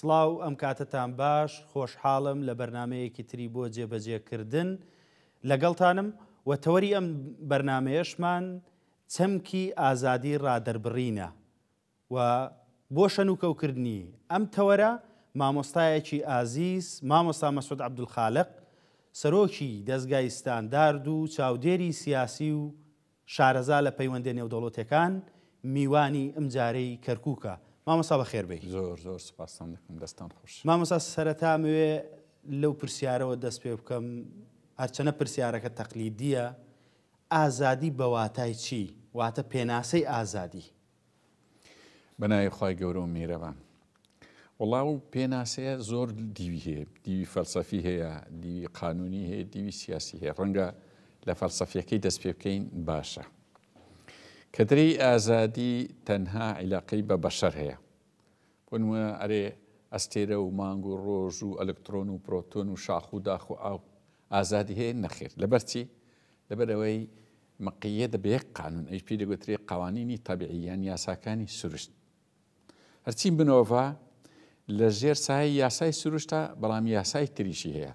سڵاو ئەم کاتتان باش خۆشحاڵم لە بەرنمەیەکی تری بۆ جێبەجێکردن لەگەڵتانم و تەوەری ئەم بەرنمەیەشمان چەمکی ئازادی ڕادەربڕینە و بۆ شەنوکەو کردنی ئەم تەوەرە مامۆستایەکی ئازیز مامۆستا مەسعود عەبدولخالق سەرۆکی دەزگای ستاندارد و چاودێری سیاسی و شارەزا لە پەیوەندە نێودەوڵەتیەکان میوانی ئمجارەی کەرکوکە مامۆستا بەخێر بێی. زۆر زۆر سوپاستان دەکەم دەستان خۆش. مامۆستا سەرەتا ئەمەوێ لەو پرسیارەوە دەست پێ بکەم هەرچەنە پرسیارەکە تەقلیدیە ئازادی بەواتای چی واتە پێناسەی ئازادی بەناوی خوای گەورە و میرەبان. وەڵا و پێناسەیە زۆر دیوی هەیە دیوی فەلسەفی هەیە دیوی قانونی هەیە دیوی سیاسی هەیە ڕەنگە لە فەلسەفیەکەی دەست پێ بکەین باشە کە درەی ئازادی تەنها عیلاقەی بە بەشەر هەیە بۆنمە ئەرێ ئەستێرە و مانگ و ڕۆژ و ئەلکترۆن و پرۆتۆن و شاخ و داخ و ئاو ئازادی هەیە نەخێر لەبەرچی لەبەرەوەی مقیدە بە یەک قانون ئەویش پێی دەگوترێ قوانینی طبیعی یان یاساکانی سروشت هەرچی منۆڤە لە ژێر سای یاسای سروشتە بەڵام یاسای تریشی هەیە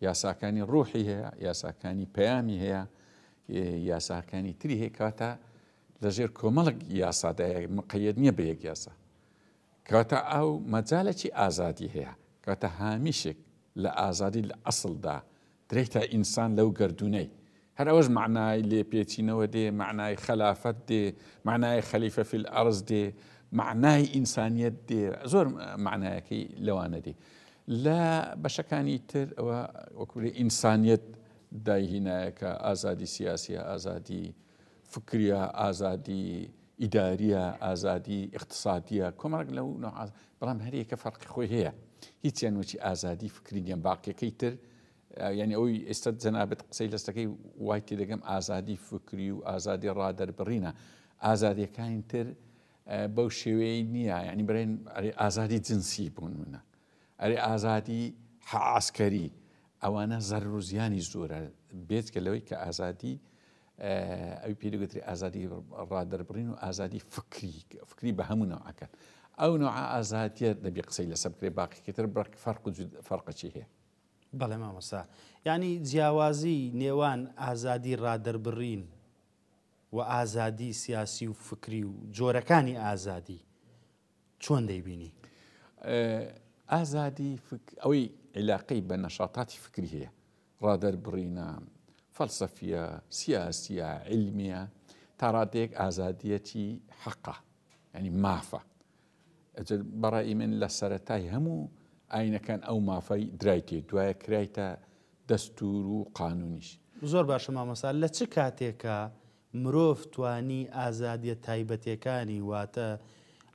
یاساکانی ڕوحی هەیە یاساکانی پەیامی هەیە یاساکانی تری هەیە کاتە لە ژێر کۆمەڵک یاسادای مقید نییە بە یەک یاسا کەواتە ئاو مەجالێکی ئازادی هەیە، کەواتە هامیشێک لە ئازادی لە ئەسڵدا درێتە ئینسان لەو گەردوونەی. هەر ئەوەش مەعنای لێپێچینەوە دێ، مەعنای خەلافەت دێ، مەعنای خەلیفە فی الارض دێ، مەعنای ئینسانیەت دێ، زۆر مەعنایەکەی لەوانە دێ. لە بەشەکانی تر ئەوە وەکو ئینسانیەت دایهینایە کە ئازادی سیاسیە، ئازادی فکریە، ئازادی ئیداریە، ئازادی ئیقتسادیە، کۆمەڵێک لەو نەوعە بەڵام هەر یەکە فەرقی خۆی هەیە هیچیان وەچی ئازادی فکری نیە باقیەکەی تر یعنی ئەوی ئێستا جەنابەت قسەی لەستەکەی وای تێ دەگەم ئازادی فکری و ئازادی ڕادەربڕینە ئازادیەکانی تر بەو شێوەیە نییە ینی برێن ئەرێ ئازادی جنسی بوون منە ئەرێ ئازادی حعسکەری ئەوانە زەر و زیانی زۆرە بێت کە لەوەی کە ئازادی ئەوی پێ دەگوترێ ئازادی ڕادەربڕین و ئازادی فکری فکری بە هەموو نەوعەکەن ئەو نەوە ئازادیە دەبی قسەی لەسە بکرێ باقیکەتر بڕک فەرق و فەرقەچی هەیە بەڵێ مامەسا ینی جیاوازی نێوان ئازادی ڕادەربڕین و ئازادی سیاسی و فکری و جۆرەکانی ئازادی چۆن دەیبینی؟ ئازادی فکر ئەوەی عیلاقەی بە نەشاتاتی فکری هەیە ڕادەربڕینە فەلسەفیە سیاسیە علمیە تاڕادەیەک ئازادیەتی حەقا ینی مافە ئەجل بەڕی من لە سەرەتای هەموو ئاینەکان ئەو مافای درایتێ دوایە کرایتە دەستور و قانونیش زۆر باشە مامەسا لە چ کاتێکە مرۆڤ توانی ئازادیە تایبەتێکانی واتە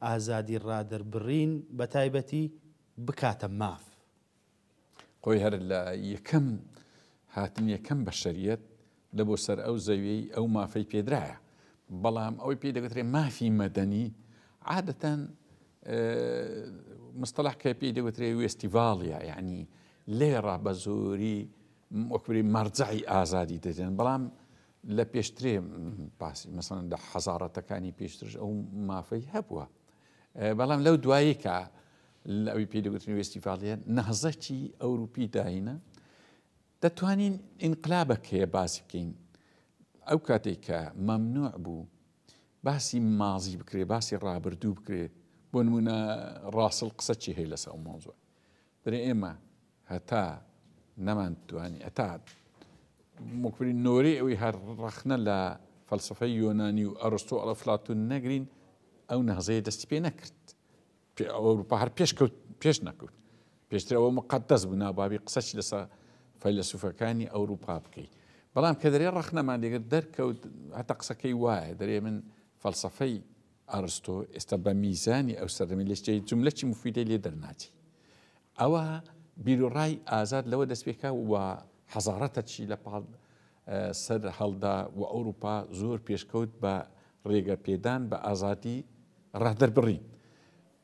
ئازادی ڕادەربڕین بە تایبەتی بکاتە ماف. خۆی هەر لە یەکەم هاتنی یەکەم بەشەریەت لە بۆ سەر ئەو زەویەی ئەو مافەی پێدرایە بەڵام ئەوەی پێی دەگوترێ مافی مەدەنی عادەتەن مستەلاح کە پێی دەگوترێ وێستیڤاڵە یعنی لێڕا بە زۆری وەکوری مەرجعی ئازادی دەدێن بەڵام لە پێشترێ باسی مەسەن لە حەزاڕەتەکانی پێشترش ئەو مافەی هەبووە بەڵام لەو دوایی کە لە ئەوی پێدەگوتنی وێستیڤالە نەهزەکی ئەوروپی داینە دەتوانین ئینقلابەکەیە باسی بکەین ئەو کاتێک کە مەمنوع بوو باسی مازی بکرێ باسی ڕابردوو بکرێت بۆ نمونە ڕاسل قسە چی هەیە لەسە ئەو مۆزوە درێ ئێمە هەتا نەمان توانی هەتا موکبری نۆری ئەوی هەر ڕەخنە لە فەلسفەی یۆنانی و ئەرستۆ ئەڵە فلاتون نەگرین ئەو نەهزەیە دەستی پێ نەکرد ئەوروپا هەر پێش کەوت پێش نەکەوت پێشتر ئەوە مقدەس بوو نابابی قسەچ لەسە فەیلسوفەکانی ئەوروپا بکەیت بەڵام کە دەرێ ڕەخنەمان لێگر دەرکەوت هەتا قسەکەی وایە دەرێ من فەلسفەی ئەڕستۆ ئێستا بە میزانی ئەو سەردەمی لە جێی جوملە چی موفیدەی لێ دەرناچی ئەوە بیروڕای ئازاد لەوە دەست پێکا و حەزارەتە چی لە پاڵ سەر هەڵدا و ئەوروپا زۆر پێشکەوت بە ڕێگە پێدان بە ئازادی ڕەهدەربڕین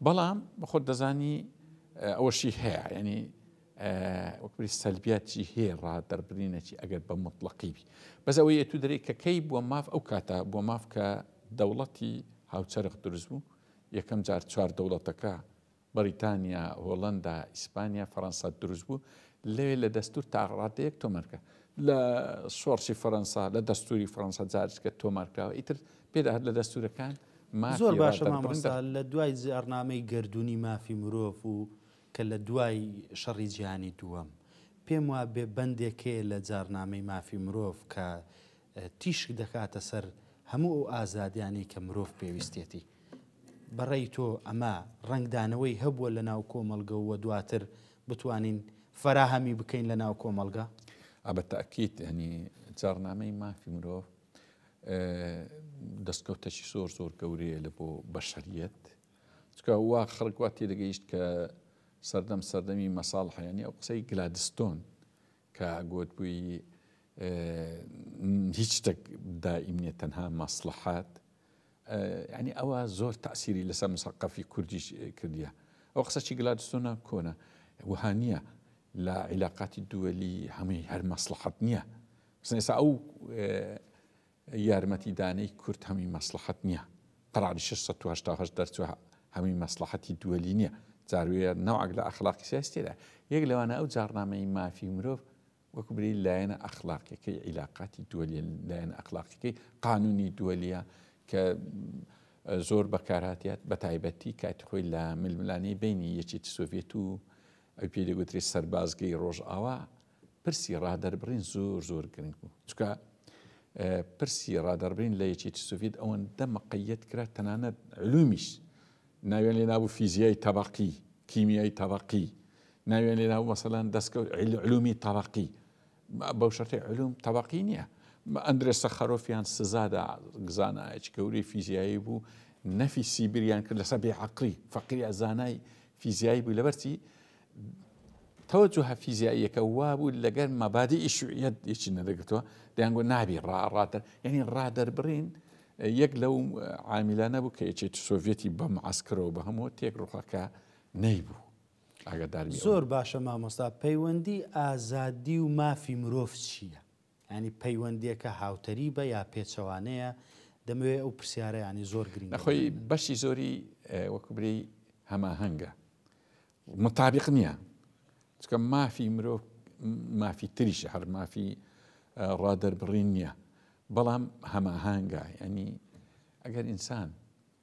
بەڵام بەخۆت دەزانی ئەوەشی هەیە ینی وەکبری سەلبیات چی هەیە ڕا دەربرینە چی ئەگەر بە مطلقی بی بەس ئەوەی ئەتو دەرێ کە کەی بووە ماف ئەو کاتە بۆ ماف کە دەوڵەتی هاوچەرخ دروست بوو یەکەم جار چوار دەوڵەتەکە بەریتانیا هۆڵندا ئیسپانیا فەرەنسا دروست بوو لەوێ لە دەستور تاڕادەیەک تۆمەرکە لە سۆرسی فەرەنسا لە دەستوری فەرەنسا جارچکە تۆمارکراوە ئیتر پێدا لە دەستورەکان زۆر باشە مامۆستا لە دوای زێڕنامەی گردردونی مافی مرۆڤ و کە لە دوای شەڕی جیهانی دووەم پێم وابێ بەندێک هەیە لە جاڕنامەی مافی مرۆڤ کە تیشک دەکاتە سەر هەموو ئەو ئازادیانەی کە مرۆڤ پێویستێتی. بە ڕێی تۆ ئەمە ڕەنگدانەوەی هەبووە لە ناو کۆمەڵگە و دواتر بتوانین فەراهەمی بکەین لە ناو کۆمەڵگە؟ ئا بە تەئکید یانی جاڕنامەی مافی مرۆڤ دەستکەوتەکی زۆر زۆر گەورەیە لە بۆ بەشەریەت چونکە وا خەڵک وا تێدەگەیشت کە سەردەم سەردەمی مەساڵحە یانی ئەو قسەی گلادستۆن کە گوت بووی هیچ شتێک دائیم نیە تەنها مەسلحات ینی ئەوە زۆر تاسیری لەسەر مسەقەفی کوردیش کردیە ئەو قسەی گلادستۆنە کۆنە وها نییە لە عیلاقاتی دووەلی هەمووی هەر مەسلحەت نییە سنێسا ئەو یارمەتی دانەی کورد هەمی مەسڵەحەت نیە قەراری شەش سەد و هەشتا و هەشت دەرچوە هەمی مەسڵەحەتی دوەلی نیە جار وێ نەوعەک لە ئەخڵاقی سیاسی تێدایە یەک لەوانە ئەو جاڕنامەی مافی مرۆڤ وەکو بری لایەنە ئەخڵاقیەکەی عیلاقاتی دوەلیە لایەنە ئەخڵاقیەکەی قانونی دوەلیە کە زۆر بەکارهاتیات بە تایبەتی کاتی خۆی لە ململانەی بینی یەکێتی سۆڤێت و ئەو پێ دەگوترێت سەربازگەی ڕۆژئاوا پرسی ڕادەربڕین زۆر زۆر گرنگ بوو چکە پرسی ڕادەربین لە یەکێتی سوڤید ئەوەندە مقیت کرا تەنانەت علومیش ناوێن لێ نابوو فیزیای تەبقی کیمیای تەبقی ناوێن لێ نابوو مەسەلاەن دەستکەوت علومی تەبقی بەو شەرتی علوم تەبقی نییە ئەندرێ سەخەرۆفیان سزادا زانایەکی گەورەی فیزیایی بوو نەفی سیبریان کرد لەسەر بێعقلی فەقیری زانای فیزیایی بوو لەبەرچی تەوەجوهە فیزیاییەکە وابوو لەگەر مەبادیئی شوعیەت یەکی نەدەگرتەوە دەیانگۆ نابی ڕا ڕادەر یعنی ڕادەربڕین یەک لەو عامیلانە بوو کە یەکێتی سۆڤێتی بە معسکرەوە بە هەموو تێک ڕوخەکە نەیبوو ئاگادار زۆر باشە مامۆستا پەیوەندی ئازادی و مافی مرۆڤ چییە؟ ینی پەیوەندیەکە هاوتەری بە یا پێچەوانەیە دەمەوێت ئەو پرسیارەیانی زۆر گرنگ خۆی بەشی زۆری وەکوبری هەماهەنگە موتابیق نیە چکە مافی مرۆڤ مافی تریشە هەر مافی ڕادەربڕین نیە بەڵام هەماهانگا ینی ئەگەر ئینسان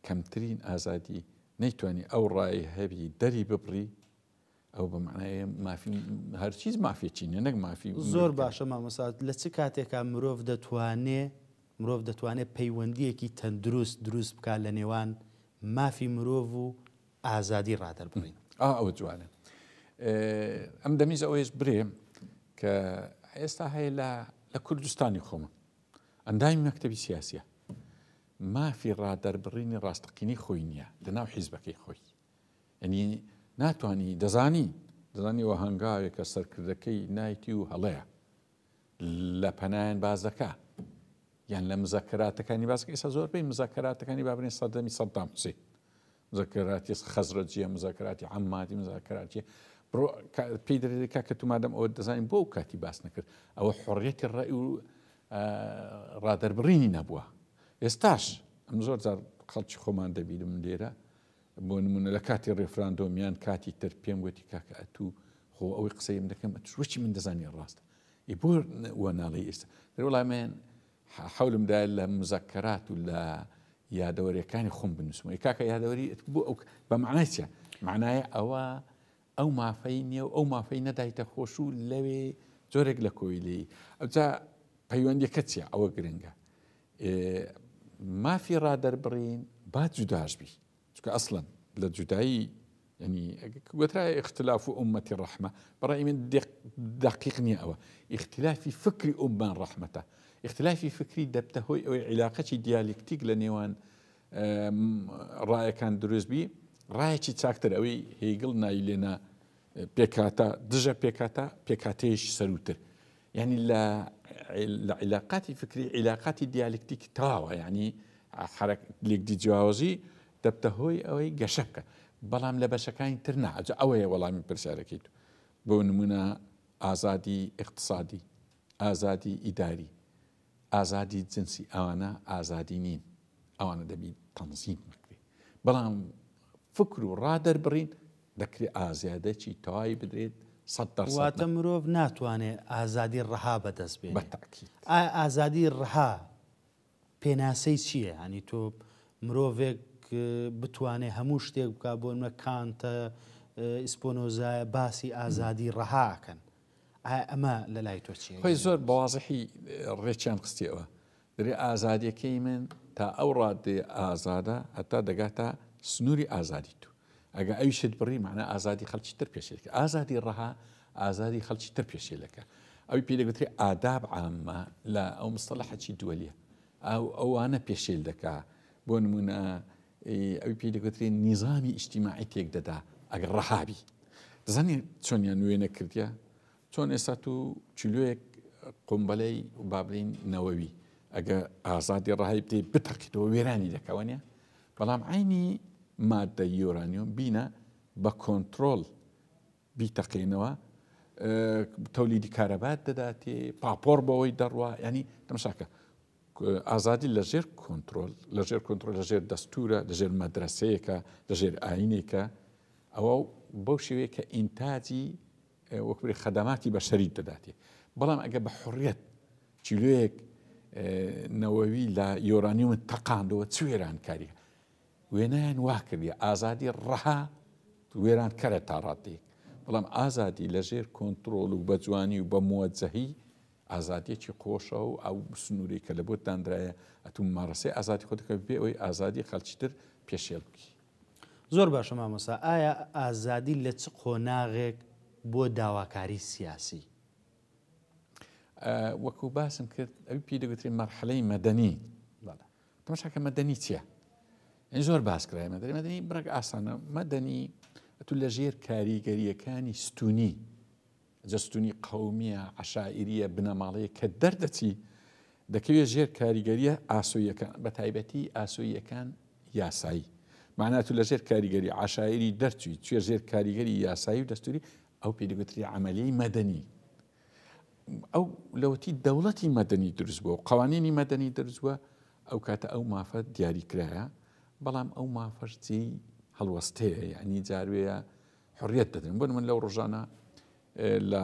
کەمترین ئازادی نەیتوانی ئەو ڕای هەبی دەری ببڕی ئەو بە معناە مافی هەرچیز مافێکی نیە نەک مافی زۆر باشە مامەسات لە چ کاتێکا مرۆڤ دەتوانێ مرۆڤ دەتوانێت پەیوەندیەکی تەندروست دروست بکات لە نێوان مافی مرۆڤ و ئازادی ڕادەربڕین. ئا ئەوە جوانە ئەم دەمیز ئەوەیش برێ کە ئێستا هەیە لە لە کوردستانی خۆمە ئەندامی مەکتتەبی سیاسە مافی ڕادەربڕینی ڕاستەقینی خۆی نییە لە ناو حیزبەکەی خۆی ئەنی ناتانی دەزانی دەزانی وە هەنگاوێکە سەرکردەکەی نایتی و هەڵەیە لە پەنایان باز دەکا یان لە مزەکەراتەکانی باسکە ئێستا زۆربەی مزەکەراتەکانی بابنێ سەردەمی سەدام حوسێن مزاکراتی خەزرەجیە مزاکراتی عەمماتی مزاکراتی بڕۆ کا- پێی دەرێت کاکە تو مادەم ئەوە دەزانین بۆ ئەو کاتی باس نەکرد ئەوە حڕیەتی ڕای و ئا، ڕادەربڕینی نەبووە ئێستاش ئەم زۆر جار خەڵکی خۆمان دەبینم لێرە بۆ نمونە لە کاتی ڕێفراندۆم یان کاتی تر پێم گوتی کاکە ئەتو خۆ ئەوەی قسەیم دەکەم ئەتوش وەچی من دەزانی ڕاستە ئی بۆ وە ناڵێی ئێستا دەرێ وەڵای من حە حەولم دایە لە مزەکەرات و لە یادەوەریەکانی خۆم بنووسمەوە. ئەی کاکە یادەوەری ئت بۆ ئەو بە مەعنای چە؟ مەعنای ئەوە ئەو مافەی نیە و ئەو مافەی نەدایتە خۆش و لەوێ جۆرێک لە کۆیلەیی. ئەوجا پەیوەندیەکە چیە؟ ئەوە گرنگە. ئێ مافی ڕادەربڕین با جوداش بی. چونکە ئەسڵەن لە جودایی یەنی گوترای ئختلاف و ئومەتی ڕەحمە بەڕای من دقیق نییە ئەوە ئختلافی فکری ئومان ڕەحمەتە ئختلافی فکری دەبتە هۆی ئەوەی عیلاقەی دیالیکتیک لە نێوان ڕایەکان دروستبی ڕایەکی چاکتر ئەوەی هیگڵ ناوی لێنا پێکاتە دژە پێکاتە پێکاتێش سەروتر یانی لە لە عیلاقاتی فکری عیلاقاتی دیالکتیکی تەواوە یانی حرەک لێکدی جیاوازی دەبتە هۆی ئەوەی گەشە بکە بەڵام لە بەشەکانی تر نا ئەجا ئەوەیە وەڵامی پرسیارەکەی تو بۆ نمونە ئازادی ئیقتسادی ئازادی ئیداری ئازادی جنسی ئەوانە ئازادی نین ئەوانە دەبی تەنزیم بکری بەڵام فکر و ڕا دەربڕین دەکرێت ئازیادەکی تەواوی بدرێت واتە مرۆڤ ناتوانێت ئازادی ڕەها بەدەست بێت ئازادی ڕەها پێناسەی چییە هەنی تۆ مرۆڤێک بتوانێت هەموو شتێک بک بۆنمە کانتە ئیسپۆنۆزایە باسی ئازادی ڕەهاکەن ئایا ئەمە لە لای تۆ چییە؟ خۆی زۆر بە وازحی ڕێکیان خستیەوە. دەرێ ئازادیەکەی من تا ئەو ڕادەیە ئازادە هەتا دەگاتە سنووری ئازادی تو. ئەگە ئەویشت بڕی مەعنا ئازادی خەڵکی تر پێشێلکە. ئازادی ڕەها ئازادی خەڵکی تر پێشێلەکە. ئەوی پێی دەگوترێ ئاداب عامە لە ئەو مستەڵەحەکی دووەلیە. ئەو ئەوانە پێشێل دەکا. بۆ نموونە ی ئەوی پێی دەگوترێ نیزامی ئیجتیماعی تێک دەدا ئەگەر ڕەها بی. دەزانی چۆنیان وێنە کردیە؟ چۆن ئێستا تو کیلۆیەک قومبەلەی با بلین نەوەوی ئەگە ئازادی ڕەهای بدەی بتەقیتەوە وێرانی دەکا وانە؟ بەڵام عەینی ماددە یۆرانیۆم بینە بە کۆنترۆڵ بیتەقێنەوە تەولیدی کارەبات دەداتێ پاپۆڕ بەوەی دەڕوا ینی تەمشاکە ئازادی لە ژێر کۆنتترۆل لە ژێر کۆنتترۆل لە ژێر دەستورە لە ژێر مەدرسەیەەکە لە ژێر ئاینێکە ئەوە بەو شێوەیە کە ئینتاجی وەکوری خەدەماتی بە شەریت دەداتێ بەڵام ئەگە بە حڕەت چیلوەیەک نەوەوی لە یۆرانیومن تەقاندەوە چ وێرانکاریە وێنایان وا کردیە ئازادی ڕەها وێرانکەرە تا ڕادەیەک بەڵام ئازادی لەژێر کۆنتترۆل و بەجوانی و بە موەجەهی ئازادیەکی قۆشە و ئەو سنووری کە لە بۆ دانراە ئەتوم مارەسەی ئازادی خۆ دەکە بێ ئەوی ئازادی خەلچتر پێشێل بکی زۆر باشە مامۆسا ئایا ئازادی لە چ قۆناغێک بۆ داواکاری سیاسی وەکو باسم کرد ئەوی پێ دەگوترێت مەرحەلەی مەدەنی تەماشا کە مەدەنی چیە یعنی زۆر باس کرای مەدەنی مەدەنی بڕێک ئاسانە مەدەنی ئەتو لە ژێر کاریگەریەکانی ستونی جەستونی قومیە عشاعریە بنەماڵەیە کە دەردەچی دەکەوێت ژێر کاریگەریە ئاسۆیەکان بە تایبەتی ئاسۆیەکان یاسایی معنات و لە ژێر کاریگەری عشاعری دەرچوی توێ ژێر کاریگەری یاسایی و دەستوری ئەو پێدەگوتری عملی مەدەنی ئەو لەوەتی دەوڵەتی مەدەنی دروست بووە و قوانینی مەدەنی دروست بووە ئەو کاتە ئەو مافە دیاریکرایە بەڵام ئەو مافەش جێی هەڵوەستەیە یعنی جاروەیە حڕیت دەدەن بن من لەو ڕژانە لە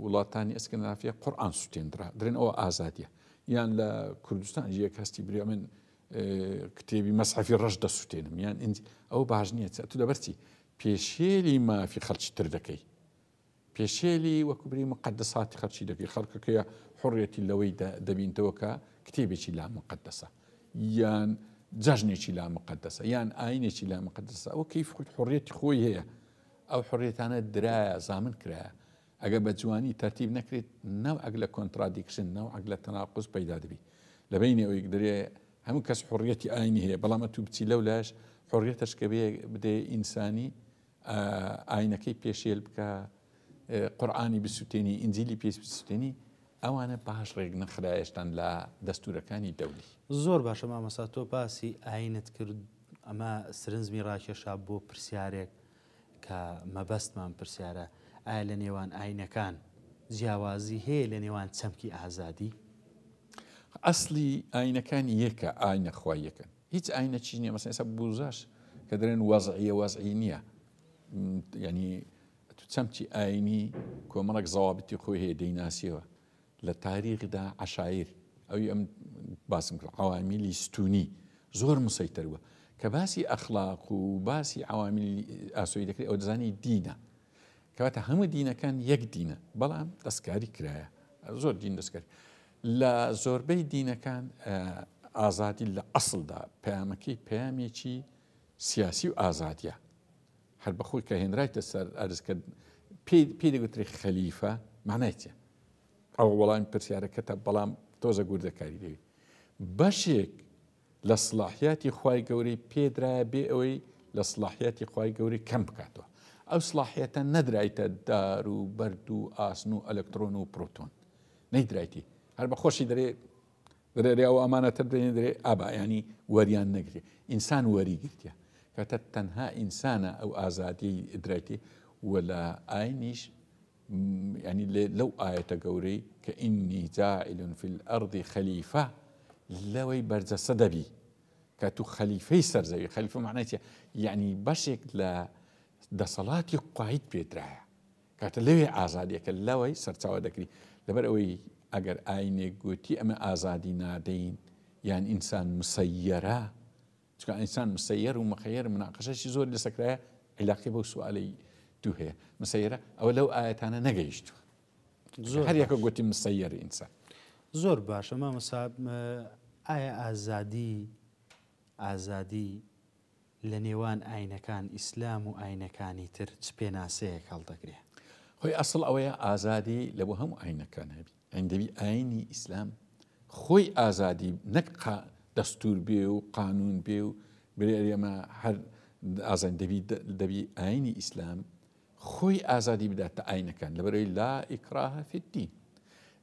وڵاتانی ئەسکنافە قورآان سوتێندرا درێن ئەوە ئازادیە یان لە کوردستان یەک هەستی بریا من کتێبی مەسحفی ڕەش دەسوتێنم یان ئەو باش نییە تو لەبەرچی پێشێلی مافی خەڵکی تر دەکەی پێشێلی وەکو بری موقەدەساتی خەڵکی دەکەی، خەڵکەکەیە حوڕیەتی لەوەی دەبینتەوە کە کتێبێکی لا موقەدەسە یان جەژنێکی لا موقەدەسە یان ئاینێکی لا موقەدەسە ئەوە کەیف خود حوڕیەتی خۆی هەیە ئەو حوڕێتانە درایە زامن کرایە ئەگە بە جوانی تەرتیب نەکرێت ناو ئەگ لە کۆنترادیکشن ناو ئەگ لە تەناقز پەیدا دەبی لە بینی ئەوەی درێ هەموو کەس حڕیەتی ئاینی هەیە بەڵام تو بچی لەو لاش حڕیەتش کە بێ بدێ ئینسانی ئاینەکەی پێشێل بکە، قورعانی بسوتێنی، ئینجیلی پێ بسوتێنی، ئەوانە باش ڕێک نەخرایەشتان لە دەستورەکانی دەولی. زۆر باشە مامۆستا تۆ باسی ئاینت کرد ئەمە سرنجمی ڕاکێشا بۆ پرسیارێک کە مەبەستمان پرسیارە ئایا لە نێوان ئاینەکان جیاوازی هەیە لە نێوان چەمکی ئازادی؟ ئەسڵی ئاینەکان یەکە ئاینە خوای یەکەن هیچ ئاینەکی نیە مەسەن ئێسا بوزاش کە دەرێن وەزعە وەزعی نییە ینی تو چەمچی ئاینی کۆمەڵک زەوابتی خۆی هەیە دەیناسیەوە لە تاریخدا عشایر ئەوی ئەم باسم کرد عوامیلی ستونی زۆر مسەیتەر بووە کە باسی ئەخلاق و باسی عوامیل ئاسۆی دەکرێت ئەو دەزانی دینە کەواتە هەموو دینەکان یەک دینە بەڵام دەستکاری کرایە زۆر دین دەستکاری لە زۆربەی دینەکان ئازادی لە ئەسڵدا پەیامەکەی پەیامێکی سیاسی و ئازادیە هەر بەخۆی کە هێنرایتە سەر ئەرزکە پێی دەگوتری خەلیفە مانای چێ ئەو وەڵامی پرسیارەکەتە بەڵام تۆزە گوردەکاری دەوی بەشێک لە سڵاحیاتی خوای گەورەی پێدرایە بێ ئەوەی لە سڵاحیاتی خوای گەورەی کەم بکاتەوە ئەو سڵاحیەتە نەدرایتە دار و بەرد و ئاسن و ئەلکترۆن و پرۆتۆن نەیدرایتی هەر بە خۆشی دەرێ دەرێ و ئەمانەتە دێنێ دەرێ ئابا ینی وەریان نەگرێ ئینسان وەری گرتە کەتە تەنها ئینسانە ئەو ئازادی درایتی و لە ئاینیش یانی لەو ئایەتە گەورەی کە ئینی جاعل فی الارض خەلیفە لەوەی بەرجەسە دەبی کە تو خەلیفەی سەرزەوی خەلیفە معنای چیە یعنی بەشێک لە دەسەڵاتی قویت پێدرایە کاتە لەوێ ئازادیەکە لەوەی سەرچاوە دەکری لەبەر ئەوەی ئەگەر ئاینێک گوتی ئەمە ئازادی نادەین یان ئینسان مسەیەرە چونکە ئینسان مسەیەر و مخەیەر مناقەشەشی زۆری لەسەر کرایە عیلاقەی بەو سوالەی دوو هەیە مسەیرە ئەوە لەو ئاەتانە نەگەیشتووە زۆر هەر یەکە گوتی مسەیەر ئینسان زۆر باشە مامەسا ئایا ئازادی ئازادی لە نێوان ئاینەکان ئیسلام و ئاینەکانی تر چ پێناسەیەک هەڵدەگرێ خۆی ئەسڵ ئەوەیە ئازادی لە بۆ هەموو ئاینەکان هەبی هەیندەوی ئاینی ئیسلام خۆی ئازادی نەک قا دەستور بێ و قانون بێ و بلێ ئێمە هەر ئازان دەبی دەبی ئاینی ئیسلام خۆی ئازادی بدات تا ئاینەکان لەبەرەوەی لا ئیکراهە فی الدین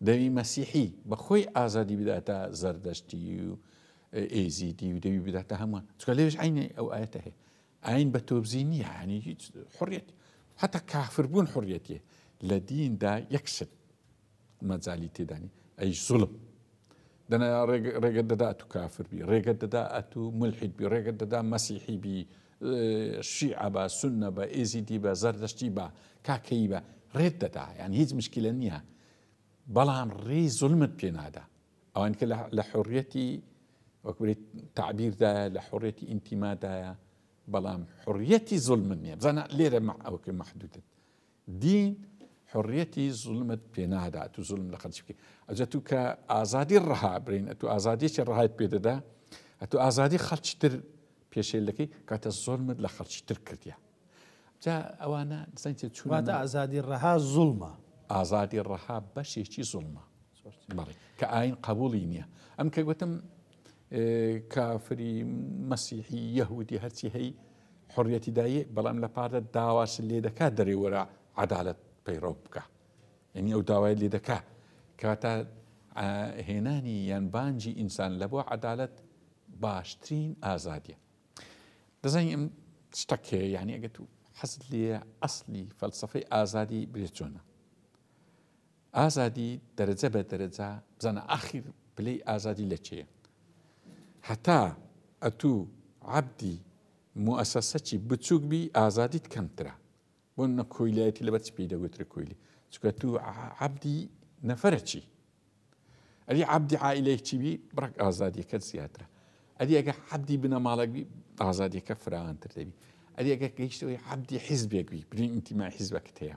دەوی مەسیحی بەخۆی ئازادی بداتە زەردەشتی و ئێزیدی و دەوی بداتە هەمووان چکە لێش عینی ئەو ئاەتە هەیە ئاین بە تۆبزی نییە هەنی هیچ حڕێت حتا کافربوون حڕێتە لە دیندا یەکشت مەجالی تێدا نیە ئەی زوڵم دەنا ڕێگە دەدا ئەتو کافر بی ڕێگە دەدا ئەتو ملحید بی ڕێگە دەدا مەسیحی بی شیعە بە سنە بە ئێزیدی بە زەردەشتی بە کاکەی بە ڕێت دەدا یان هیچ مشکلە نییە بەڵام ڕێی زلمت پێنادا ئەوان کە لە حڕەتی وەکوێت تعبیردایە لە حڕەتی ئینتیمادایە بەڵام حڕەتی زلمن نیە بزانە لێرە ئەوکە محدودت دین حریەتی زوڵمت پێ نادات و زوڵم لە خەلکی بکەی ئەجە تو کە ئازادی ڕەها برین ئەتو ئازادیەکی ڕەهایت پێ دەدا ئەتو ئازادی خەلکی تر پێشێل دەکەی کاتە زۆلمت لە خەلکی تر کردیا جا ئەوانە دزانیت چون واتە ئازادی ڕەها زوڵمە ئازادی ڕەها بەشێکی زوڵمە بەڵی کە ئاین قبولی نییە ئەم کە گوتم کافری مەسیحی یەهودی هەرچی هەی حڕەتی دایە بەڵام لە پارە داواش لێ دەکات دەرێوەرە عدالت پەیڕەو بکە یعنی ئەو داوای لێ دەکا کەواتە هێنانی یان بانجی ئینسان لە بۆ عدالت باشترین ئازادیە دەزانین ئەم شتەکێ یعنی ئەگەت و حەز لێ ئەسلی فەلسفەی ئازادی برێت چۆنە ئازادی دەرەجە بە دەرەجە بزانە ئاخیر پلەی ئازادی لە چێە هەتا ئەتوو عەبدی موئەسەسەچی بچووک بی ئازادیت کەمترە بۆ نە کۆیلایەتی لەبەر چی پێی دەگوترێ کۆیلی چکە تو عەبدی نەفرە چی ئەدی عەبدی عائلەیەک چی بی بڕک ئازادیەکە زیاترە ئەدی ئەگە عەبدی بنەماڵک بی ئازادیەکە فراوانتر دەبی ئەدی ئەگە گەیشتەوەی عەبدی حیزبێک بی برین ئینتیمای حیزبەکە هەیە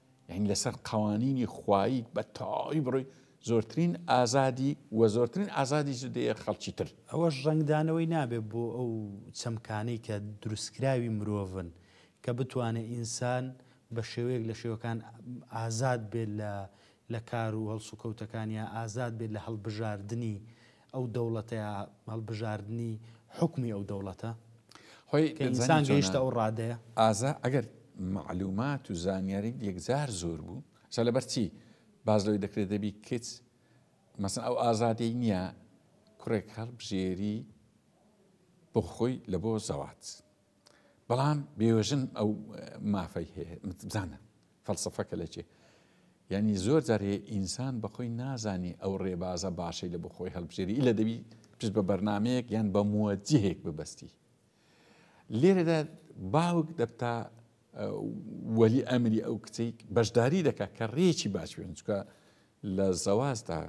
یانی لەسەر قەوانینی خوایی بە تەواوی بڕۆی زۆرترین ئازادی و زۆرترین ئازادیش دەیە خەڵکی تر. ئەوەش ڕەنگدانەوەی نابێت بۆ ئەو چەمکانەی کە دروستکراوی مرۆڤن کە بتوانێت ئینسان بە شێوەیەک لە شێوەکان ئازاد بێت لە لە کار و هەڵسوکەوتەکان یا ئازاد بێت لە هەڵبژاردنی ئەو دەوڵەتە یا هەڵبژاردنی حوکمی ئەو دەوڵەتە خۆی کە ئینسان گەیشتە ئەو ڕادەیە؟ ئازا، ئەگەر مەعلوومات و زانیاریت یەکجار زۆر بوو، ئەسا لەبەر چی باس لەوەی دەکرێت دەبی کچ مەسەن ئەو ئازادیەی نییە کوڕێک هەڵبژێری بۆ خۆی لە بۆ زەواج؟ بەڵام بێوەژن ئەو مافەی هەیە بزانە فەلسفەکە لە چێ یعنی زۆر جارێ ئینسان بەخۆی نازانی ئەو ڕێبازە باشەی لە بخۆی هەڵبژێری لە دەبی پشت بە بەرنمەیەک یان بە موەجهێک ببەستی لێرەدا باوک دەبتا وەلی ئەمری ئەو کچێک بەشداری دەکات کە ڕێکی باش بێن چکە لە زەوازدا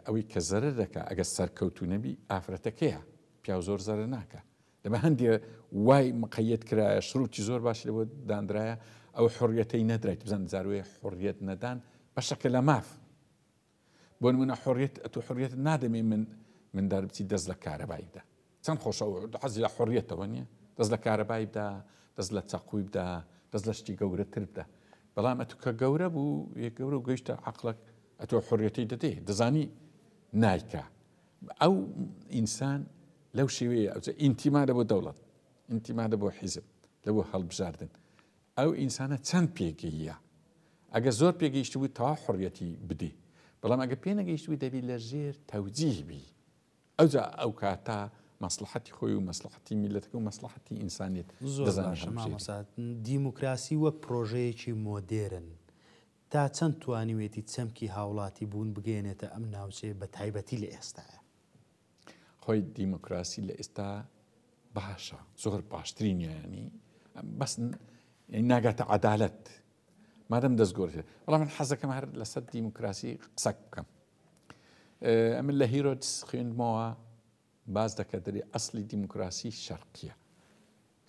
ئەوەی کە زەرەر دەکا ئەگەر سەرکەوتوو نەبی ئافرەتەکەیە پیاو زۆر زەرەر ناکا دەبا هەندێ وای مقەیەت کرایە شروتی زۆر باش لەوە دانرایە ئەو حڕیەتەی نەدرایت بزان زاروێ حڕیەت نەدان بەشەکە لە ماف بۆن منە حڕێت ئەتو حڕێت نادەمێ من من دەربچی دەست لە کارەبایدا چەند خۆشە ئەو حەزی لە حوڕیەتەوە نیە دەست لە کارەبای بدا دەست لە چەقوی بدا دەست لە شتی گەورەتر بدا بەڵام ئەتو کە گەورە بوو یە گەورە و گەیشتە عقلەک ئەتۆ حوڕیەتی دەدێ دەزانی نایکە ئەو ئینسان لەو شێوەیە ئەوجە ئینتیمادە بۆ دەوڵەت ئینتیمادە بۆ حیزب لە بۆ هەڵبژاردن ئەو ئینسانە چەند پێگەیە ئەگە زۆر پێگەیشت بوو تا حڕەتی بدی بەڵام ئەگە پێ نەگەیشت بوو دەبی لە ژێر تەوجیهبی ئەوجا ئەوکاتە مەسڵەحەتی خۆی و مەسڵەحەتی میللەتەکە و مەسڵەحەتی ئینسانیەت زۆر باشە مامۆستا دیموکراسی وەک پرۆژەیەکی مۆدێرن تا چەند توانیوێتی چەمکی هاوڵاتی بوون بگەێنێتە ئەم ناوچەیە بە تایبەتی لە ئێستاە خۆی دیموکراسی لە ئێستا باشە زۆر باشترین یانی بەس ناگاتە عدالت مادەم دەستگۆرت بەڵام من حەزەکەم هەر لەسەر دیموکراسی قسەک بکەم ئەمن لە هیرۆدس خوێندمەوە باز دەکە دەێ ئەسلی دیموکراسی شەرقیە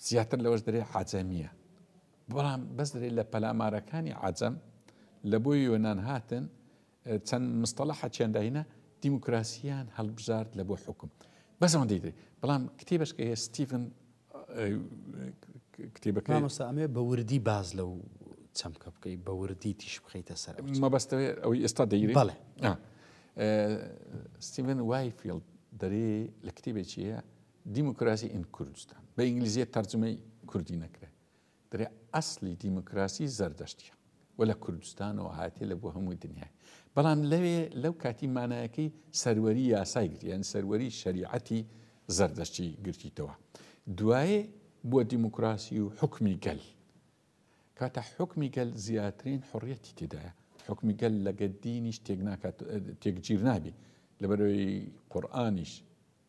زیاتر لەوەش دەێ عجەمیە بەڵام بەس دەێ لە پەلامارەکانی عجەم لە بۆ یۆناان هاتن چەند مستەڵە حەچێنداینە دیموکراسیان هەڵبژارد لە بۆ حکوم بەسەوەندەی دەێ بەڵام کتێبشکە هەیە ستیڤن کتێبەکەی. مامۆستا ئەمەوێت بە وردی باس لەو چەمکە بکەیت بە وردی تیش بخەیتە سەر مەبەستەوێت ئەوەی ئێستا دەیری بەڵێ ستیڤن وایفیلد دەرێ لە کتێبێکیە دیموکراسی ئین کوردستان بە ئینگلیزیە تەرجمەی کوردی نەکرێت برا ئەسڵی دیموکراسی زەردەشتیە و لە کوردستانەوە هاتیە لە بۆ هەموو دنیای بەڵام لەوێ لەو کاتی مانایەکەی سەروەری یاسای گرتی یان سەروەری شەریعەتی زەردەشتی گرتیتەوە دوایێ بووە دیموکراسی و حکمی گەل کاتە حکمی گەل زیاترین حڕیەتی تێدایە حکمی گەل لەگە دینیش تێک ناکات تێکگیر نابی لەبەرەوەی قورآانیش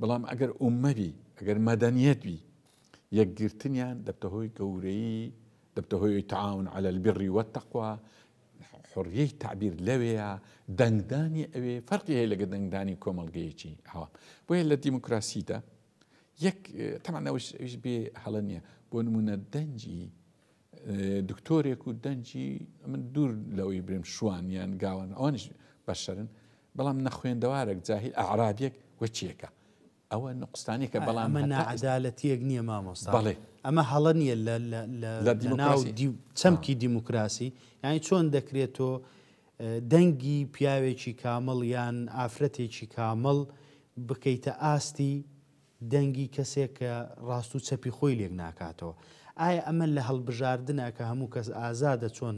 بەڵام ئەگەر ئوممە بی، ئەگەر مەدەنیەت بی، یەکگرتنیان دەبتە هۆی گەورەیی، دەبتە هۆی تعاون علی البر والتقوی، حریەی تعبیر لەوێیە، دەنگدانی ئەوێ فەرقی هەیە لەگەر دەنگدانی کۆمەڵگەیەکی عەوام. بۆیە لە دیموکراسیدا یەک، تەبعەن ئەویش بێ هەڵە نیە، بۆ نمونە دەنگی دکتۆرێک و دەنگی، من دوور لەوەی برێم شوان یان گاوان ئەوانیش بەشەرن، بەڵام نەخوێندەوارەک جاهیل ئەعرابیەک وە چیەکە؟ ئەوە نقوستانێکە بەڵام ئەمە ناعەدالەتیەک نییە مامۆستا بەڵێ ئەمە هەڵە نییە لە ناو چەمکی دیموکراسی یعنی چۆن دەکرێت تۆ دەنگی پیاوێکی کامەڵ یان ئافرەتێکی کامەڵ بکەیتە ئاستی دەنگی کەسێک کە ڕاست و چەپی خۆی لێک ناکاتەوە. ئایا ئەمە لە هەڵبژاردنە کە هەموو کەس ئازادە چۆن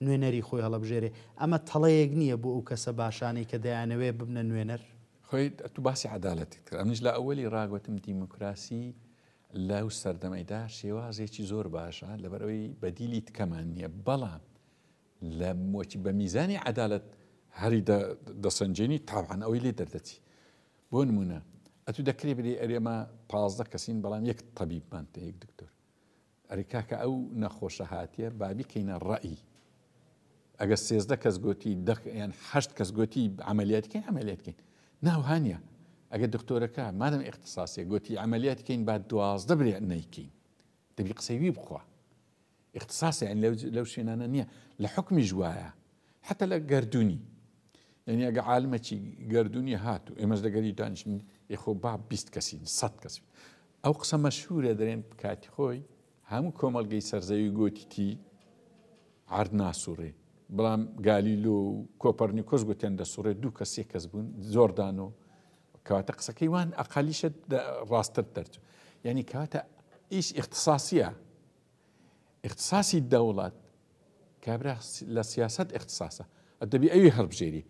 نوێنەری خۆی هەڵەبژێرێ؟ ئەمە تەڵەیەک نییە بۆ ئەو کەسە باشانەی کە دەیانەوێ ببنە نوێنەر؟ خوێ تو باسی عەدالەتت کرد ئەمنیش لە ئەوەلی ڕا گۆتم دیموکراسی لەو سەردەمەیدا شێوازێکی زۆر باشە لەبەر ئەوەی بەدیلی تکەمان نییە بەڵام لە مۆچی بە میزانی عەدالەت هەری دەسەنجێنی تاوان ئەوەی لێ دەردەچی بۆ نموونە ئەتوو دەکرێ بلێی ئەرێ ئەمە پازدە کەسین بەڵام یەک تەبیبمان پێ یەک دکتۆر ئەرێ کاکە ئەو نەخۆشە هاتیە با بیکەینە ڕەئی ئەگە سێزدە کەس گوتی دەیان هەشت کەس گوتی ئەعملیاتکەین ئەمەلێتکەین ناوهانە ئەگە دکتۆرەکە مادەم اختصاسی گوتی ئەعملیاتکەین با دوازدە برێ نیکەین دەبی قسەوی بخوا اختصاص یانی لەو لەو شوێنانە نییە لە حکمیش وایە حتى لە گردونی یعنی ئەگە عالمەکی گردونی هات و ئێمەش لەگەری دانیشتین یخۆ با بیست کەسین سەد کەسین ئەو قسە مەشهورە دەرێن کاتی خۆی هەموو کۆمەلگەی سەرزەوی گۆتیتی عرد ناسوڕێ بەڵام گالیلۆ و کۆپەرنیکۆس گوتیان دەسوڕێ دوو کەس سێ کەس بوون زۆردان و کەواتە قسەکەی وان ئەقالیشە ڕاستتر دەرچوو یعنی کاتە ئیش اختصاسیە اختصاسی دەوڵەت کابرا لە سیاست اختصاسە ئەدەبی ئەوی هەڵبژێری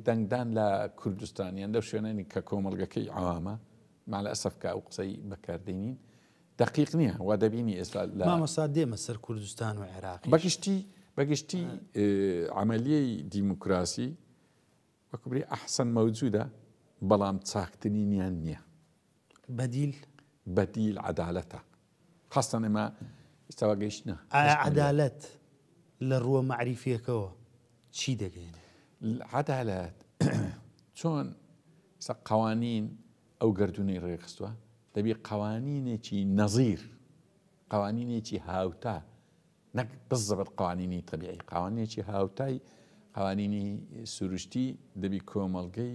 دەنگدان لە کوردستانیان لەو شوێنانی کە کۆمەلگەکەی عوامە مالە ئەسفکە ئەو قسەی بەکاردێنین دقیق نییە وا دەبینی ئێستا لە مامەسا دێمە سەر کوردستان و عێراق بەگشتی بەگشتی عملیی دیموکراسی وەک بری احسن موجودە بەڵام چاکترینیان نیە. بەدیل؟ بەدیل عەدالەتە خاستان ئێمە ئیستا وا گەیشتنە. ئایا عەدالەت لە ڕووە مەعریفیەکەوە چی دەگەینێ؟ عەدالەت چۆن ئیستا قەوانین ئەو گەردوونەی ڕێکخستووە دەبی قەوانینێکی نەزیر قەوانینێکی هاوتا نەک بە زەبر قوانینی تەبیعی، قوانینێکی هاوتای قوانینی سروشتی دەبی کۆمەڵگەی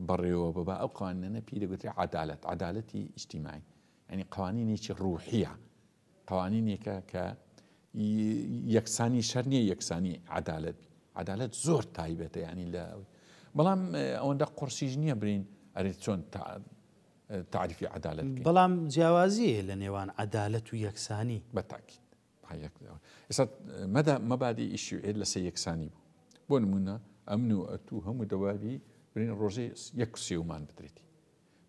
بەڕێوە ببا، ئەو قوانینەنە پێی دەگوترێ عەدالەت، عەدالەتی ئیجتیماعی، یعنی قوانینێکی ڕوحییە، قوانینێکە کە یەکسانی شەر نییە یەکسانی عەدالەت بی، عەدالەت زۆر تایبەتە یعنی لە بەڵام ئەوەندە قڕسیش نییە برین ئەرێ چۆن تەعریفی عەدالەت بکەین. بەڵام جیاوازی هەیە لە نێوان عەدالەت و یەکسانی. بە تاکید. ئێستا مەبادی ئی شیوعیەت لە سەر یەکسانی بوو. بۆ نموونە ئەمن و ئەتوو هەموو دەواری برین ڕۆژێ یەک سێومان بدرێتی.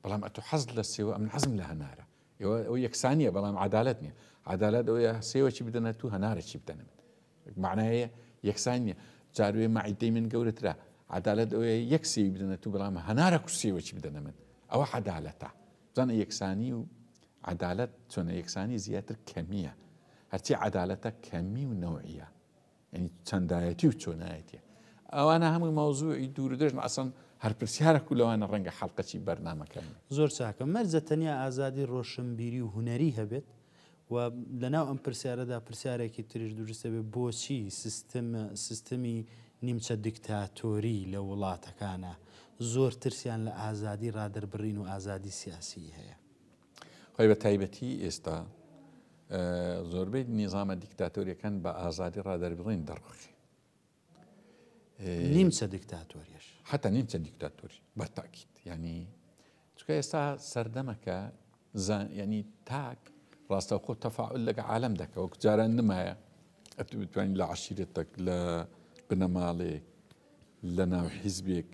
بەڵام ئەتوو حەز لە سێوە ئەمن حەزم لە هەنارە. ئێوە ئەو یەکسانیە بەڵام عەدالەت نییە. عەدالەت ئەوەیە سێوەکی بدەنە تو هەنارەکی بدەنە من. مەعنای یەکسانی نیە جاروێ مەعیدەی من گەورەترە عدالەت ئەوەیە یەک سێوی بدەنە تو بەڵام هەنارە کوسێوەکی بدەنە من ئەوە عدالەتە بزانە یەکسانی و عدالەت چۆنە یەکسانی زیاتر کەمیە هەرچی عدالەتە کەمی و نەوعە ینی چەندایەتی و چۆنایەتە ئەوانە هەمووی مەوزوعی دوور دەژن ئەسن هەر پرسیارە و لەوانە ڕەنگە حڵلقەی بەرنمەکەن زۆر چاکە مەرجە تەنیا ئازادی ڕۆشنبیری و هوەری هەبێت و لەناو ئەم پرسیارەدا پرسیارێکی تریش دروست دەبێت، بۆچی سیستم سیستمی نیمچە دیکتاتۆری لە وڵاتەکانە زۆر ترسیان لە ئازادی ڕادەربڕین و ئازادی سیاسیی هەیە؟ خۆی بە تایبەتی ئێستا زۆربەی نیزامە دیکتاتۆریەکان بە ئازادی ڕادەربڕین دەڕوخێ نیمچە دیکتاتۆریش. حەتا نیمچە دیکتاتۆری بە تاکید یعنی چکە ئێستا سەردەمەکە ینی تاک ڕاستەوخۆ تەفاعل لەگە عالم دەکە وەک جاران نمایە ئەتو بتوانین لە عشیرەتەک لە بنەماڵێک لە ناو حیزبێک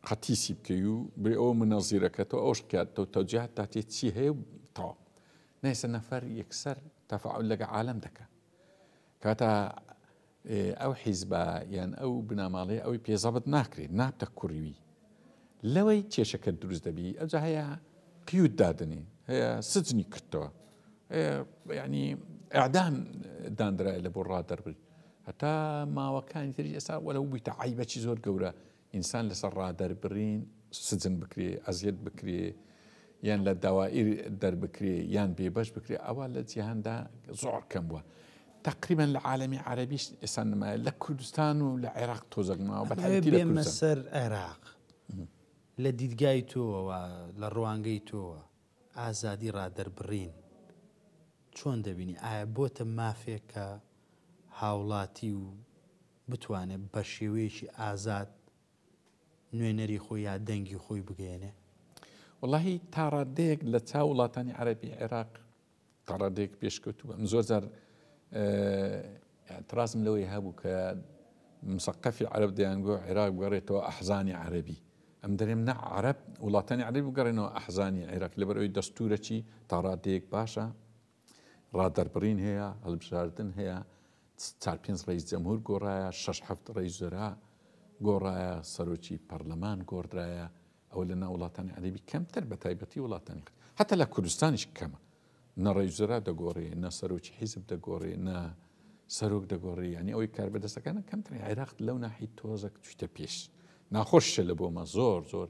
قەتیسی بکەی و بێ ئەو منەزیرەکەەوە ئەوش کاتەوە تەجیهات تا تێ چی هەیە تاو نایسە نەفەر یەکسەر تەفاعل لەگە عالم دەکە کاتا ئەو حیزبە یان ئەو بناماڵەیە ئەوەی پێ زەبت ناکرێت نابتە کوریوی لەوەی کێشەکە دروست دەبی ئەوجا هەیە قیوت دادنی هەیە سجنی کردەوە ینی ئەعدام دانرای لە بۆ ڕادەربووی هەتا ماوەکانی تری ئێستا وەرە بوویتە عیبەکی زۆر گەورە ئینسان لەسەر ڕا دەربرین سجن بکرێ، ئەزیەت بکرێ، یان لە دەوائیر دەربکرێ، یان بێبەش بکرێ، ئەوە لە جیهاندا زۆر کەم بووە. تەقریبەن لە عالەمی عەرەبیش ئێستا نمایە، لە کوردستان و لە عێراق تۆزەک نماوە، بە تایبەتی لە کوردستان. بێمە سەر عێراق، لە دیدگای تۆوە، لە ڕوانگەی تۆوە، ئازادی ڕا دەربڕین چۆن دەبینی؟ ئایا بۆتە مافێک کە هاوڵاتی و بتوانێت بە شێوەیەکی ئازاد نوێنەری خۆی یا دەنگی خۆی بگەیەنێ؟ وەڵاهی تا ڕادەیەک لە چاو وڵاتانی عەرەبی عێراق تا ڕادەیەک پێشکەوتوو بە من زۆر جار ترازم لەوەی هەبوو کە مسەقەفی عەرب دەیانگۆ عێراق بگەڕێتەوە ئەحزانی عەربی ئەم دەرێم نە عرب وڵاتانی عەربی بگەڕێنەوە ئەحزانی عێراق لەبەر ئەوی دەستورەچی تاڕادەیەک باشە ڕادەربڕین هەیە، هەڵبژاردن هەیە، چار پێنج ڕەیس جەمهور گۆڕایە، شەش حەفت ڕەیس وزەرا گۆڕایە، سەرۆکی پەرلەمان گۆڕدرایە، ئەوە لە ناو وڵاتانی عەرەبی کەمتر بە تایبەتی وڵاتانی هەتا لە کوردستانیش کەمە نە ڕەیس وزەرا دەگۆڕێ نە سەرۆکی حیزب دەگۆڕێ نە سەرۆک دەگۆڕێ ینی ئەوەی کاربەدەستەکانە کەمتر عێراق لەو ناحی تۆزەک چویتە پێش ناخۆشە لە بۆمە زۆر زۆر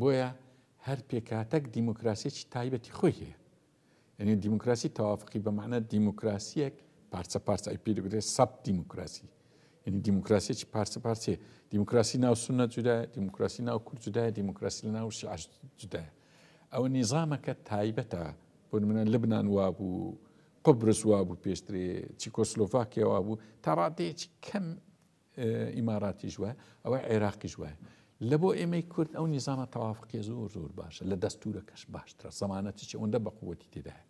بۆیە هەر پێکهاتەک دیموکراسیەکی تایبەتی خۆی هەیە یعنی دیموکراسی تەوافقی بە معنە دیموکراسیەک پارچە پارچە ئەی پێدەگرێت سەب دیموکراسی یعنی دیموکراسیەکی پارچە پارچێ دیموکراسی ناو سنە جودا دیموکراسی ناو کورد جودای دیموکراسی لە ناو شعر جودایە ئەو نیزامەکە تایبەتە بۆ منە لبنان وابوو قبرس وابوو پێشترێ چیکۆسلۆڤاکیاوا بوو تا ڕادەیەکی کەم ئیماراتیش وایە ئەوە عێراقیش وایە لە بۆ ئێمەی کورد ئەو نیزانە تەوافقی زۆر زۆر باشە لە دەستورە کەش باشترە زمانەتی چ ئەوەندە بەقوەتی تێدایە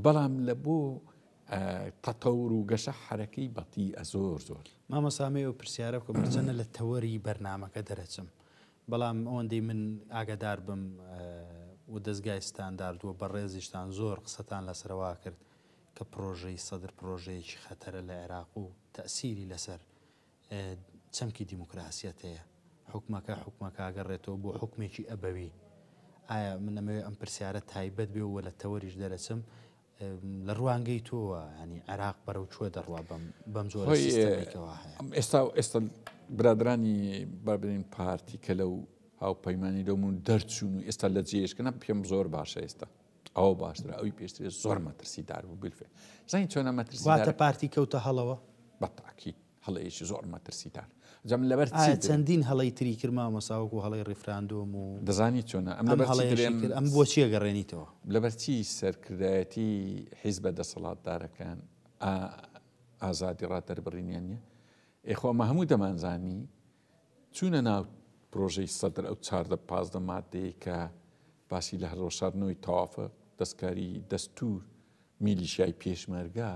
بەڵام لە بۆ تەتەور و گەشە حرەکەی بەتی ئە زۆر زۆر مامەسامەیە و پرسیارە کە بچەنە لە تەوەری بەرنمەکە دەرەچم بەڵام ئەوەندەی من ئاگادار بم و دەستگایستان داردووە بە ڕێزیشتان زۆر قسەتان لەسەروا کرد کە پرۆژەی سەدر پرۆژەیەکی خەتەرە لە عێراق و تەئسیری لەسەر چەمکی دیموکراسیەت هەیە حوکمەکە حوکمەکاگەڕێتەوە بۆ حوکمێکی ئەبەوی ئایا من ئەمەوێ ئەم پرسیارە تایبەت بێ و لە تەوەریش دەرەچم لە ڕوانگەی تۆوە ینی عێراق بەرەو چوە دەڕوا بم بەم جۆ ئێستا ئێستا برادرانی بابلین پارتی کە لەو هاوپەیمانانی لەمون دەرچوون و ئێستا لە جێشکەە پێم زۆر باشە ئێستا ئەوە باشترە ئەوی پێشترێ زۆر مەترسی دار بوو بلفێ زین چۆنە مەترسیواتە پارتی کەوتە هەڵەوە بەتاکی هەڵەیەکی زۆر مەترسیدار جەم لەبەر چەندین هەڵی تری کرما مەساوک و هەڵی ڕیفراندۆم و دەزانی چۆنە ئەم ئەم بۆ چیە گەڕێنیتەوە لەبەرچی سەرکردایەتی حیز بە دەسەڵاتدارەکان ئازادی ڕات دەربڕینیان نیە ئێخۆمە هەموو دەمانزانی چوونە ناو پرۆژەی سەدر ئەو چاردە پازدە مادەیەی کە باسی لە هەڵوەشاردنەوەی تەوافە دەستکاری دەستوور میلیشیای پێشمەرگە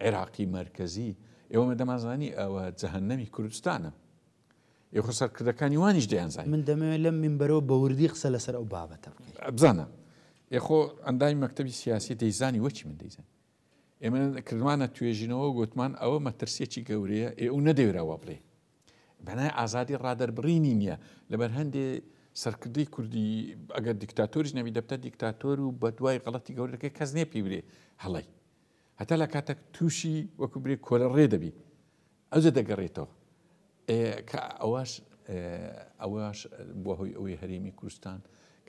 عێراقی مەرکەزی ئێوەمە دەمانزانی ئەوە جەهەنەمی کوردستانە ئێ خۆ سەرکردەکانی وانیش دەیانزانی من دەمەوێت لەم مینبەرەوە بە وردی قسە لەسەر ئەو بابەتە بکەین. بزانە ئێ خۆ ئەندامی مەکتەبی سیاسی دەیزانی وەکی من دەیزانی ئێمە کردمانە توێژینەوە گوتمان ئەوە مەترسیەکی گەورەیە ئێ و نەدەوێرەوە بڵێ بەنای ئازادی ڕادەربڕینی نییە لەبەر هەندێ سەرکردی کوردی ئەگەر دیکتاتۆریش نەبی دەبتە دیکتاتۆر و بە دوای غڵەتی گەورەکە کەس نێ پێ برێ هەڵی هەتا لە کاتەک تووشی وەکو برێ کۆلە ڕێ دەبی ئەوجە دەگەڕێتەوە کە ئەوەش ئەوەش بۆ هۆی ئەوەی هەرێمی کوردستان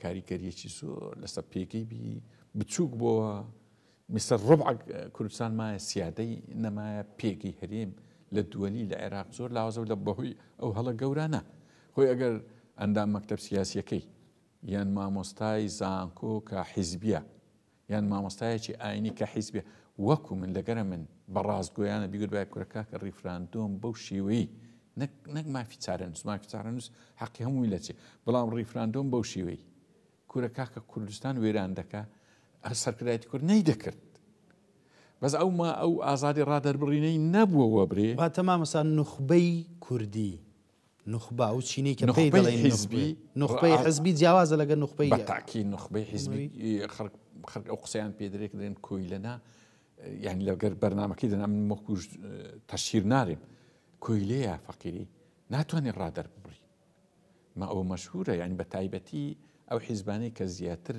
کاریکەریەکی زۆر لەسەر پێگەی بی بچووک بۆە میسر ربع کوردستان مایە سیادەی نەمایە پێگەی هەرێم لە دوەلی لە عێراق زۆر لاوازەو لە بەهۆی ئەو هەڵە گەورانە خۆی ئەگەر ئەندام مەکتەب سیاسیەکەی یان مامۆستای زانکۆ کە حیزبیە یان مامۆستایەکی ئاینی کە حیزبێ وەکو من لەگەرە من بە ڕاستگۆیانە بیگوت بای کورە کاکە ڕیفراندۆم بەو شێوەی نەک نەک مافی چارەنووس مافی چارەنووس حەقی هەمووی لەچێ بەڵام ڕیفراندۆم بەو شێوەی کورە کاکە کوردستان وێران دەکا سەرکردایەتی کورد نەیدەکرد بەس ئەو ما ئەو ئازادی ڕادەربڕینەی نەبووە وەبرێ واتە مامەسا نوخبەی کوردی نوخبا و چینەی کە پێی نوخبەی دەڵێن حیزبی نوخبە نوخبەی ڕا- حزبی جیاوازە لەگە نوخبەی بە تاکی نوخبەی حیزبی خەڵک خەڵک ئەو قسەیان پێ درێک درێن کۆیلەنا یعنی لەگەر بەرنمەکەی دەنا من وەکوش تەشیر نارێم کۆیلەیە فەقیری ناتوانێت ڕادەر ببڕی ما ئەوە مەشهورە یانی بە تایبەتی ئەو حیزبانەی کە زیاتر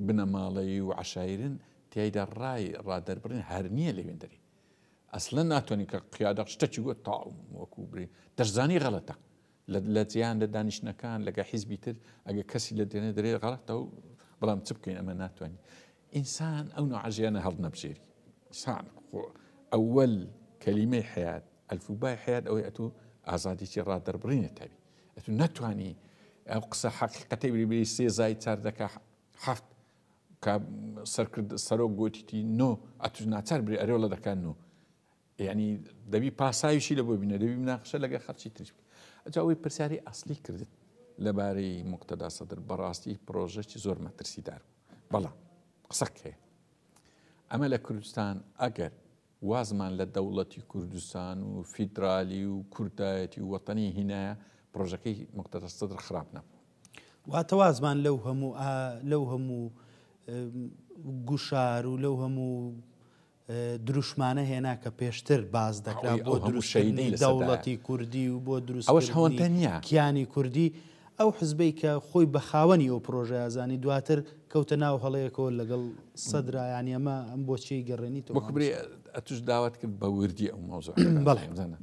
بنەماڵەیی و عەشایرن تیایدا ڕای ڕادەربڕین هەر نیە لەوێندەری ئەسلەن ناتوانین کە قیادە شتەکی گوت تاوم وەکو بری دەشزانی غەڵەتە لە جیان لە دانیشتنەکان لەگە حیزبی تر ئەگە کەسی لە دێنێ دەرێ غەڵەتە و بەڵام چ بکەین ئەمە ناتوانین ئینسان ئەو نوعە ژیانە هەڵنەبژێری سان خۆ ئەوەل کەلیمەی حیات ئەلفوبای حیات ئەوەی ئەتو ئازادیی ڕادەربڕینێت تەوی ئەتو ناتانی ئەو قسە حەقیقەتی بریبری سێزای چار دەکە حەفت سەرکرد سەرۆک گوتیتی نۆ ئەتو ناچار بری ئەرێڵە دەکەن و یەعنی دەبی پاساویشی لە بۆ بینە دەبی مناقشە لەگە خەرچی تریش بکە ئەجا ئەوەی پرسیاری ئەسلی کردت لەبارەی مقتەدا سەدر بەڕاستی پرۆژەی زۆر مەترسی دار بوو بەڵام قسەک هەیە ئەمە لە کوردستان ئەگەر وازمان لە دەوڵەتی کوردستان و فیدرالی و کوردایەتی و وەتەنی هینایە پرۆژەکەی مقتەدا سەدر خراپ نەبوو واتەوازمان لەو هەموو لەو هەموو گوشار و لەو هەموو دروشمانە هێنا کە پێشتر باس دەکرا بۆ دروستکردنی دەوڵەتی کوردی و بۆ دروستکردنی کیانی کوردی، ئەو حزبەی کە خۆی بە خاوەنی ئەو پرۆژەیە زانی، دواتر کەوتە ناو هەڵەیەکەوە لەگەڵ سەدرا، یانی ئەمە ئەم بۆچیی گەڕێنیتەوە. وەکو برێ ئەتووش داوات کرد بە وردی ئەو مەوزوعە بەڵێ بزانە.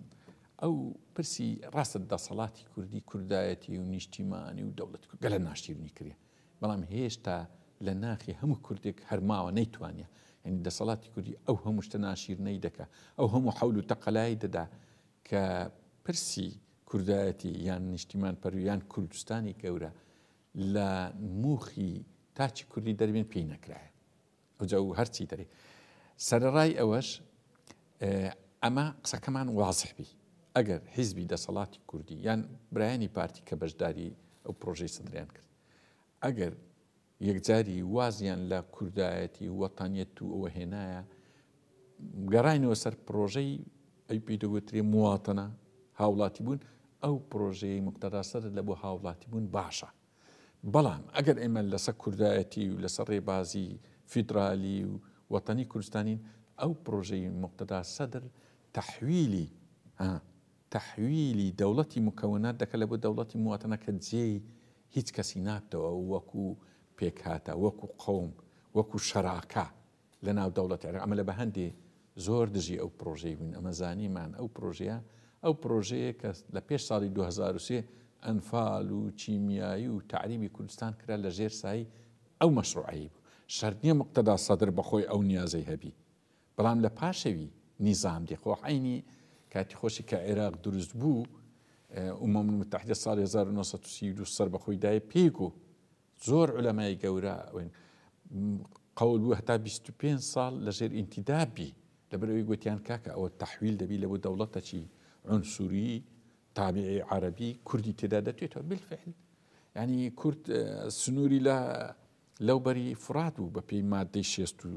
ئەو پرسی ڕاستە دەسەڵاتی کوردی، کوردایەتی و نیشتیمانی و دەوڵەتی کورد گەلە ناشیرنی کردیە. بەڵام هێشتا لە ناخی هەموو کوردێک هەر ماوە نەیتوانیە یانی دەسەڵاتی کوردی ئەو هەموو شتە ناشیرنەی دەکا ئەو هەموو حەول و تەقەلای دەدا کە پرسی کوردایەتی یان نیشتیمان پەروی یان کوردستانی گەورە لە موخی تاکی کوردی دەربێن پێی نەکرایە ئەوجا و هەرچی دەرێ سەرەڕای ئەوەش ئەمە قسەکەمان وازح بی ئەگەر حیزبی دەسەڵاتی کوردی یان برایانی پارتی کە بەشداری ئەو پرۆژەی سەدریان کرد ئەگەر یەکجاری وازیان لە کوردایەتی وەتانیت و ئەوە هێنایە گەڕینەوە سەر پرۆژەی ئەی پیدەگوترێ مواتەنە هاوڵاتی بوون ئەو پرۆژەیە مقتەداسەر لە بۆ هاوڵاتی بوون باشە بەڵام ئەگەر ئێمە لەسەر کوردایەتی و لەسەر ڕێبازی فیدرالی و وەتەنی کوردستانین ئەو پڕۆژەی موقتەدا سەدر تەحویلی ها تەحویلی دەوڵەتی مکەونات دەکە لە بۆ دەوڵەتی مواتەنە کە جێی هیچ کەسی نابتەوە وەکو پێکهاتە وەکو قەوم وەکو شەراکە لە ناو دەوڵەتی عێراق ئەمە لە بەهەندی زۆر دژی ئەو پرۆژەی بووین ئەمە زانیمان ئەو پرۆژەیە ئەو پرۆژەیە کە لە پێش ساڵی دوو هەزار و سێ ئەنفال و کیمیایی و تەعریبی کوردستان کرا لە ژێر سایی ئەو مەشروعەی بوو شەرت نییە مقتەدا سەدر بەخۆی ئەو نیازەی هەبی بەڵام لە پاشەوی نیزام دی خۆ عینی کاتی خۆشی کە عێراق دروست بوو ئومەم متحدە ساڵی 1932 سەر بەخۆی دای پێک و زۆر علەمای گەورە ئەوێن قەول بوو هەتا بیست و پێنج ساڵ لەژێر ئینتیدا بی لەبەر ئەوی گوتیان کاکە ئەوە تەحویل دەبی لەبوو دەوڵەتەکی عنسوری تابعی عربی کوردی تێدا دەتێتەوە بالفعل ینی کورد سنووری لە لەو بەری فرات بوو بە پێی مادەی شێست و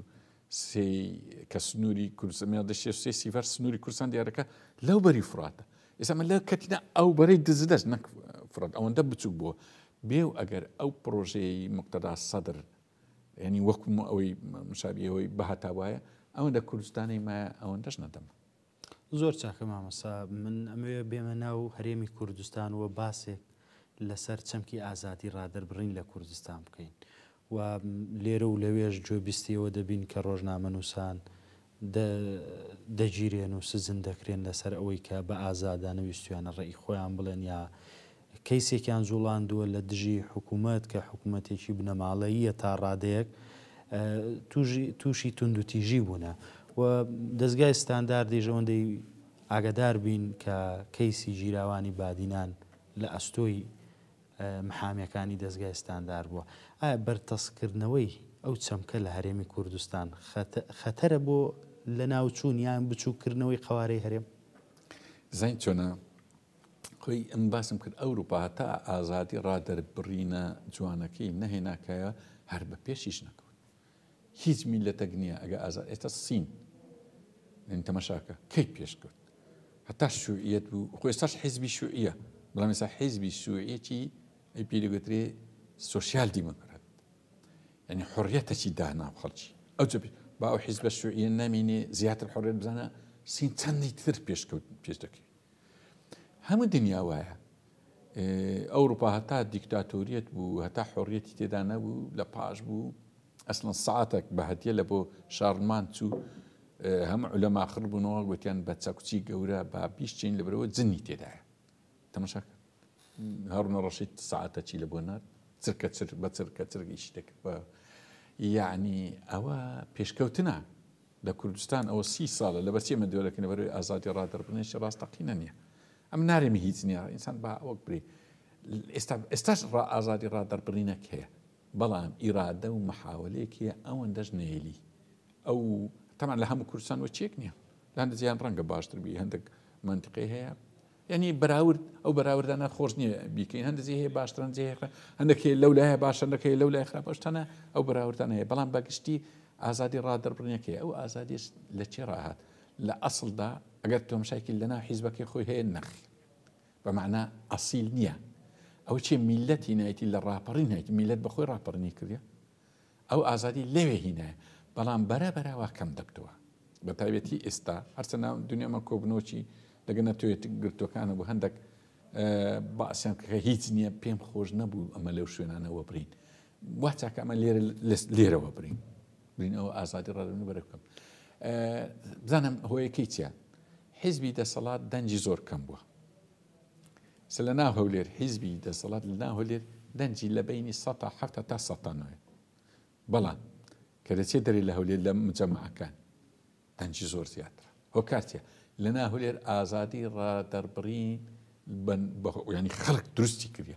سێی کە سنووری کوردستان دە شێ سێ سیڤەر سنووری کوردستان دیارەکە لەو بەری فراتە ئێستا من لە کەتینا ئەو بەرەی دزدەست نەک فرات ئەوەندە بچوک بووە بێ و ئەگەر ئەو پرۆژەی مقتەدا سەدر ینی وەکم ئەوەی مشابیەوەی بەهتا وایە ئەوەندە کوردستانی مایە ئەوەندەش نەدەم زۆر چاکە مامۆستا من ئەمەوێ بێمە ناو هەرێمی کوردستان و باسێک لەسەر چەمکی ئازادی ڕادەربڕین لە کوردستان بکەین و لێرە و لەوێش گوێبیستیەوە دەبین کە ڕۆژنامە نووسان دەگیرێن و سجن دەکرێن لەسەر ئەوەی کە بە ئازادانە ویستویانە ڕێی خۆیان بڵێن یا کەیسێکیان جوڵاندووە لە دژی حکومەت کە حکومەتێکی بنەماڵەییە تا ڕادەیەک تووشی توندوتیژی بوونە و دەزگای ستانداردیش ئەوەندەی ئاگدار بین کە کەیسی گیراوانی بادینان لە ئەستۆی محامەکانی دەستگای ستاندار بووە ئایا بەرتەسکردنەوەی ئەو چەمکە لە هەرێمی کوردستان خەتەرە بۆ لە ناوچوون یان بچووکردنەوەی قوارەی هەرێم زین چۆنە خۆی ئەم باسم کرد ئەوروپا هەتا ئازادی ڕادەربڕینە جوانەکەی نەهێناکایە هەر بە پێشیش نەکەوت هیچ میلەتەک نییە ئەگە ئازاد ئێستا سین من تەمەشاکە کەی پێشکەوت هەتا شوعیت بوو خۆی سەش حیزبی شوعە بەڵام ئێستا حیزبی شوعەتی ئەی پێدەگوترێ سوسیال دیموکرات یعنی حڕەتەکی دانا خەڵکی ئەو با ئەو حیزبە شوعە نامینێ زیاتر حڕێت بزانە سین چەندی تر پێشکەوت پێش دەکەی هەموو دنیا وایە ئەوروپا هەتا دیکتاتۆریەت بوو هەتا حۆڕیەتی تێدا نەبوو لە پاش بوو ئەسلن ساعتێک بە هەتیە لە بۆ شارمان چوو هەم لە ماخڕ بوونەوە گوتیان بە چەکچی گەورە با بیشتین لە برەوە جننی تێدایە تەمەشاکە هەڕنە ڕەشید ساعتە چی لە بۆ نات چرکە چر بە چرکە چرگیشی دەکرد بە یعنی ئەوە پێشکەوتنە لە کوردستان ئەوە سی سالە لە بەرچی ئەمە دەورەکەی لە بەروی ئازادی رادەربرنیش راستەقینە نیە ئەم نارێمی هیچ نیە ئینسان با وەک بری ئێستا ئێستاش ڕا ئازادی رادەربرینەک هەیە بەڵام ئیرادە و محاولەیەکیە ئەوەن دەش نێلی ئەو تەمان لە هەموو کوردستان وەچێک نیە لە هەندە جیان ڕەنگە باشتر بی هەندێک منتقی هەیە یانی بەراورد ئەو بەراوردانە خۆش نییە بیکەین هەندێک جێ هەیە باشتر هەندێک جێ هەیە خراپ هەندێک هەیە لەو لایە باشە هەندێک هەیە لەو لای خراپە شتانە ئەو بەراوردانە هەیە بەڵام بە گشتی ئازادی ڕادەربڕینەکەی ئەو ئازادیش لە چێ ڕاهات لە ئەسڵدا ئەگەر تۆمشایکیل لەناو حیزبەکەی خۆی هەیە نەخ بە معنا ئەسیل نییە ئەو چێ میلەتی نایەتی لە ڕاپەڕین هەیەتی میلەت بەخۆی ڕاپەڕنی کردە ئەو ئازادی لەوێ هینایە بەڵام بەرە بەرە وا کەم دەبتەوە بە تایبەتی ئێستا هەرچە ناو دنیامان کۆبنۆکی لەگە نەتوێت گرتوەکان و بە هەندێک باسیان کە هیچ نییە پێم خۆش نەبوو ئەمە لەو شوێنانەوە برین وا چاکە ئەمە لێرە لێرەوە برین برین ئەوە ئازادی ڕێنو بەرە بکەم بزانم هۆیەکەی چیە حیزبی دەسەڵات دەنجی زۆر کەم بووە سە لە ناو هەولێر حیزبی دەسەڵات لە ناو هەولێر دەنجی لە بەینی سەد تا حەفت هەتا سەد تا نۆیە بەڵام کە دەچێت دەرێ لە هەولێر لە مجەمعەکان دەنجی زۆر زیاترە هۆکارتیە لە ناو هەولێر ئازادی ڕادەربڕین بن بە ینی خەڵک دروستی کردە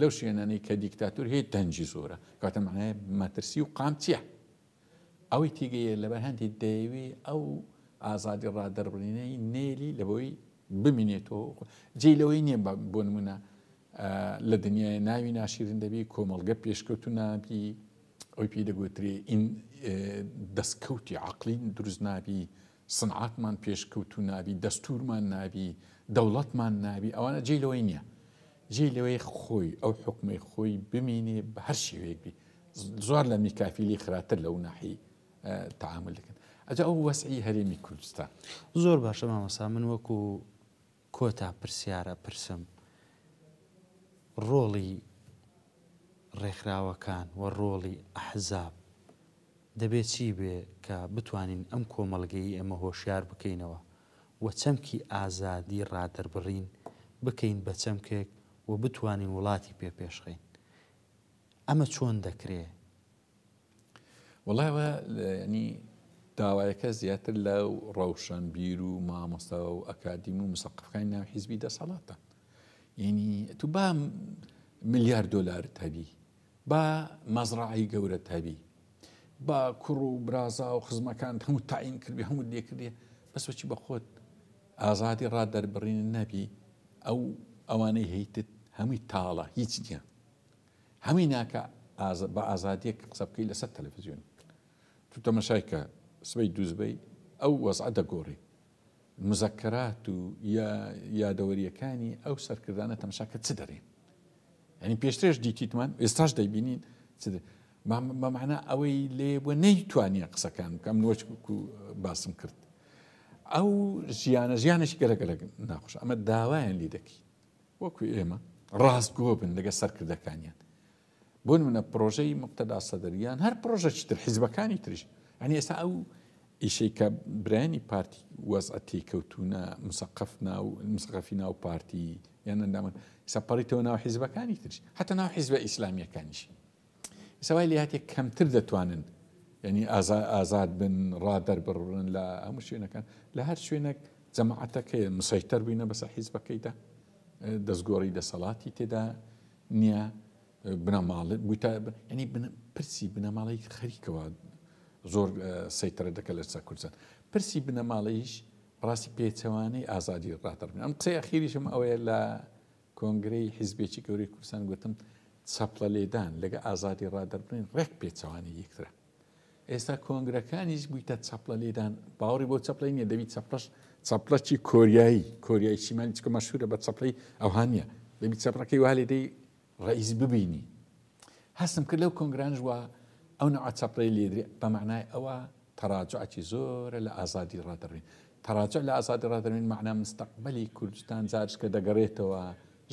لەو شوێنانەی کە دیکتاتۆر هەیە دەنگی زۆرە کەواتە مەعنای مەترسی و قام چییە؟ ئەوەی تێگەیە لەبەر هەندێک دەیەوێ ئەو ئازادی ڕادەربڕینەی نێلی لەبەوەی بمینێتەوە جێ لەوەی نییە بۆ نمونە لە دنیای ناوی ناشیرن دەبی کۆمەڵگە پێشکەوت و نابی ئەوی پێی دەگوترێ این دەستکەوتی عقلین دروست نابی سنعاتمان پێشکەوتوو نابی، دەستوورمان نابی، دەوڵەتمان نابی، ئەوانە جێی لەوەی نییە. جێی لەوەی خۆی، ئەو حوکمەی خۆی بمینێ بە هەر شێوەیەک بی. زۆر لە میکافیلی خراتر لەو ناحی تەعامول دەکەن. ئەجا ئەو وەسعی هەرێمی کوردستان. زۆر باشە مامۆستا من وەکوو. کۆتا پرسیار ئەپرسم ڕۆڵی ڕێکخراوەکان و ڕۆڵی ئەحزاب دەبێ چی بێ کە بتوانین ئەم کۆمەڵگەی ئێمە هۆشیار بکەینەوە و چەمکی ئازادی ڕادەربڕین بکەین بە چەمکێک و بتوانین وڵاتی پێ پێشخەین؟ ئەمە چۆن دەکرێ؟ وەڵای وە ینی داوایەکە زیاتر لە ڕەوشەن بیر و مامۆستا و ئەکادیم و مسەقفەکانی ناو حیزبی دەسەڵاتە ینی تو با ملیار دلار تەبی با مەزڕعی گەورە تەبی با کوڕ و برازا و خزمەکان هەموو تاین کردی هەموو لێکردێ بەسەچی بە خۆت ئازادی ڕا دەربڕین نەبی ئەو ئەوانەی هەیتت هەمووی تاڵە هیچ نیە هەویناکە بە ئازادیەک قسە بکەی لەسەر تەلەفزیۆن تو تەمەشای کە سبەی دوو سبەی ئەو وەزعە دەگۆری مزەکەرات و یا یادەوەریەکانی ئەو سەرکردانە تەمەشا کە چ دەرێن یعنی پێشترێش دیتیتمان ئێستاش دەیبینین چ بەمانە ئەوەی لێ بۆ نەیتوانیە قسەکان بکەم نوەچ باسم کرد ئەو ژیانە ژیانێکی گەلەگەلە ناخۆش ئەمە داوایان لی دەکەین وەکو ئێمە ڕاستگۆ بن لەگە سەرکردەکانیان بۆ نمونە پرۆژەی مقتەدا سەدریان هەر پرۆژە چتر حیزبەکانی ترش ئەنی ئێستا ئەو ئیشەی کە برایانی پارتی وەزعە تێکەوتونە مسەقف ناو مسەقفی ناو پارتی یان ئەندامن سەپەڕیتەوە ناو حیزبەکانی ترش حتا ناو حیزبە ئیسلامیەکانیش ئیستا وای لێهاتیە کەمتر دەتوانن یعنی ئازاد بن ڕا دەربڕن لە هەموو شوێنەکان لە هەر شوێنێک جەماعەتەکە مسەیتەر بووینە بەسە حیزبەکەیدا دەستگۆڕی دەسەڵاتی تێدا نییە بنەماڵ بوویتە ینی پرسی بنەماڵی خەریکەوە زۆر سەیتەرە دەکە لەسا کوردستان پرسی بنەماڵەیش ڕاستی پێچەوانەی ئازادی ڕاتەڕبن ئەم قسەی ئەخیریشم ئەوەیە لە کۆنگرەی حیزبێکی گەورەی کوردستان گوتم چەپڵە لێدان لەگە ئازادی ڕادەربڕین ڕێک پێچەوانەی یەکترە ئێستا کۆنگرەکانیش بوویتە چەپڵە لێدان باوەڕی بۆ چەپڵی نیە دەبی چەپڵەش چەپڵەکی کۆریایی کۆریایی شیمالی چکە مەشهورە بە چەپڵی ئەوهانە دەبی چەپڕەکەی والێدەی ڕئیس ببینی هەستم کرد لەو کۆنگرانش وا ئەو نەوعە چەپڵەی لێدرێ بە مەعنای ئەوە تەراجعی زۆرە لە ئازادی ڕادەڕوین تەراجع لە ئازادی ڕادەروین مەعنا مستەقبەلی کوردستان جارشکە دەگەڕێتەوە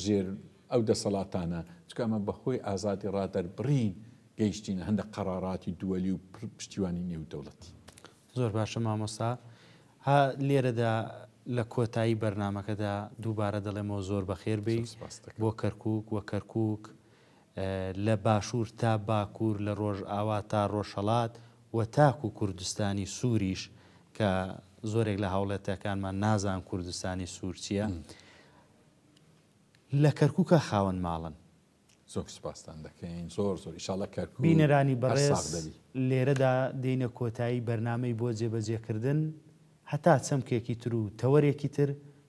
ژێر ئەو دەسەڵاتانە چکە ئەمە بەهۆی ئازادی ڕادەربڕین گەیشتینە هەندە قەراراتی دووەلی و پشتیوانی نێودەوڵەتی زۆر باشە مامۆستا ها لێرەدا لە کۆتایی بەرنمەکەدا دووبارە دەڵێمەوە زۆر بەخێر بی بۆ کەرکک وە کەرکک لە باشوور تا باکوور، لە ڕۆژاوا تا ڕۆژهەڵات و تاکوو کوردستانی سووریش کە زۆرێک لە هاوڵاتییەکانمان نازان کوردستانی سوور چییە، لە کەرکووکا خاوەن ماڵن. زۆر سوپاستان دەکەین، زۆر زۆر. ئیشاڵڵا کەرکووک بینەرانی هەر ساغ بەڕێز، دەبی. لێرەدا دێینە کۆتایی بەرنامەی بۆ جێبەجێکردن، هەتا چەمکێکی تر و تەوەرێکی تر،